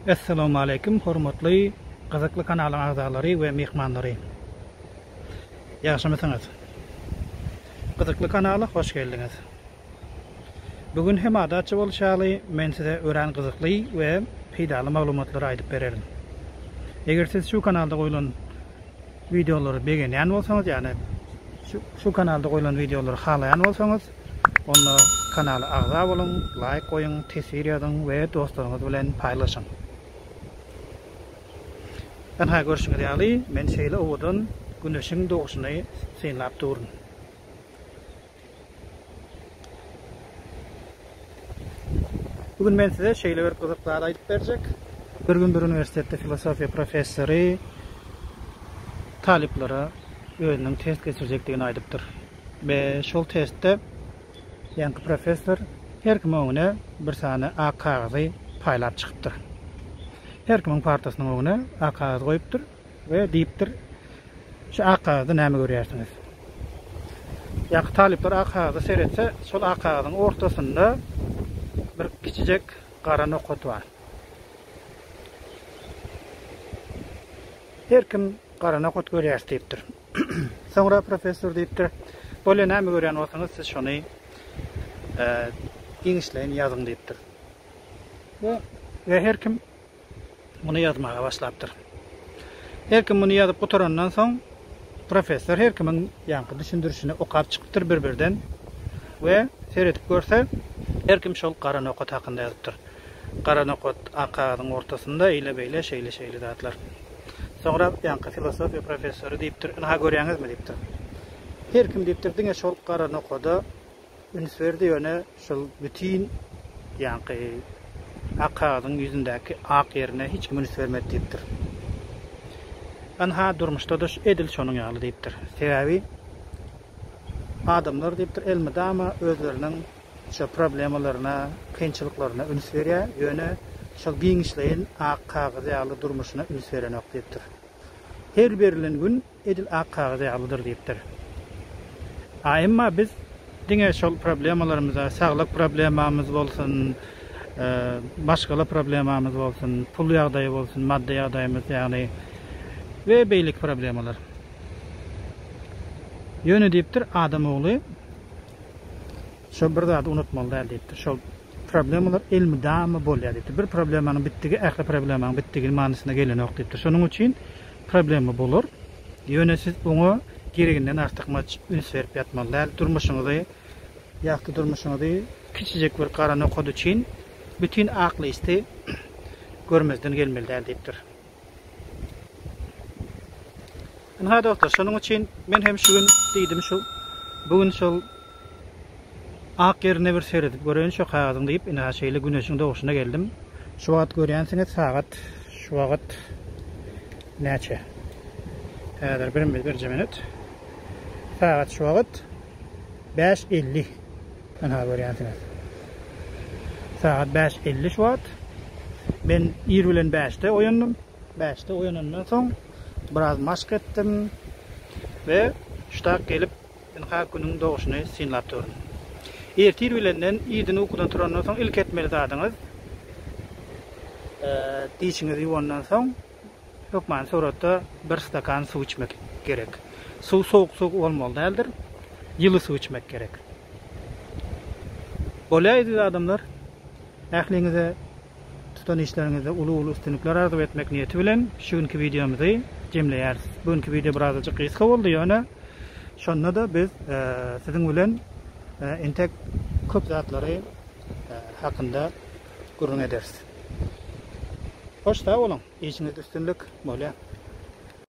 Assalamu aleykum hormatly gyzykly kanalyň agzalary we myhmanlary. Ýagşymysyňyz? Gyzykly kanala hoş geldiňiz. Bu gün hem adatça bolşy ýaly men size örän gyzykly we peýdaly maglumatlary aýdyp bererin. Eger siz şu kanalda goýlan wideolary begenýän bolsaňyz ýa-ni şu kanalda goýlan wideolary halaýan bolsaňyz onda kanala agza boluň, laýk goýuň, teswir ýazyň we dostlaryňyz bilen paýlaşyň. Ynha görşüňiz ýaly men şeýle owadan güneşiň doguşyny synlap duryn. Bu gün men size şeýle bir gyzyk zat aýdyp berjek. Bir gün bir uniwersitetde filosofiýa professory talyplara özüniň test geçirjekdigini aýdypdyr. Be şol testde ýanky professor her kim öňüne bir sany ak kagyzy paýlap çykypdyr. Her kimiň partasynyň öňüne ak kagyz goýupdyr. We diýipdir, Şu ak kagyzda näme görýärsiňiz? Ýaňky talyplar ak kagyza seretse, şol ak kagyzyň ortasynda bir kiçijek gara nokat bar. Her kim gara nokat görýäris diýipdir. Soňra professor diýipdir, Bolýa näme görýän bolsaňyz, siz şony giňişleýin ýazyň diýipdir. We her kim muny ýazmaga başlapdyr. Her kim muny ýazyp gutarandan soň, professor her kimiň ýaňky düşündirişini okap çykypdyr bir-birden we seredip görse, her kim şol gara nokat hakynda ýazypdyr. Gara nokat ak kagyzyň ortasynda eýle-beýle, şeýle-şeýle zatlar. Soňra ýaňky filosofiýa professory diýipdir, Ynha, görýäňizmi? diýipdir. Her kim diýipdir, diňe şol gara nokada üns berdi, ýöne şol bütin ýaňky ak kagyzyň ýüzündäki ak ýerine hiç kim üns bermedi diýipdir. Ynha, durmuşda-da edil şonuň ýaly diýipdir. Sebäbi adamlar diýipdir, elmydama özleriniň şu problemalaryna, kynçylyklaryna üns berýär, ýöne şol giňişleýin ak kagyz ýaly durmuşyna üns berenok diýipdir. Her berilen gün edil ak kagyz ýalydyr diýipdir. A emma biz diňe şol problemalarymyza, saglyk problemamyz bolsun, maşgala problemamyz bolsun, pul ýagdaýy bolsun, maddy ýagdaýymyz, ýagny we beýleki problemalar. Ýöne diýipdir, adam ogly Şol bir zady unutmaly däl diýipdir. Şol problemalar elmydama bolýar diýipdir. Bir problemanyň bitdigi ähli problemanyň bitdigi manysyna gelenok diýipdir. Şonuň üçin problema bolar. Ýöne siz oňa gereginden artykmaç üns berip ýatmaly däl. Durmuşyňyzy, ýagty durmuşyňyzy kiçijek bir gara nokat üçin bütin aklyýsty görmezden gelmeli däl diýipdir. Ynha dostlar, şonuň üçin men hem şu gün diýdim şu bu gün şol ak ýerine bir seredip göreýin şu kagyzyň diýip, ina şeýle güneşiň doguşyna geldim. Şu wagt görýänsiňiz sagat şu wagt näçe? Häzir bir birje minut. Sagat şu wagt 5.50. Ynha görýänsiňiz. Sagat bäş elli şu wagt. Men ir bilen bäşde oýandym. Bäşde oýanandan soň biraz maşk etdim we ştak gelip ynha günüň doguşyny synlap durdum. Ertir bilenden irden ukudan turandan soň ilk etmeli zadyňyz dişiňizi ýuwandan soň Hökman suratda bir stakan suw içmek gerek. Suw sowuk suw olmaly däldir. Ýyly suw içmek gerek. Bolýa eziz adamlar. Ähliňize tutan işleriňizde uly uly üstünlikler arzuw etmek niýeti bilen şu günki wideomyzy jemleýäris. Bu günki wideo birazajyk gysga boldy ýöne şonda-da biz siziň bilen entek köp zatlary hakynda gürrüň ederis. Hoş sag boluň, işiňizde üstünlik, Molýa.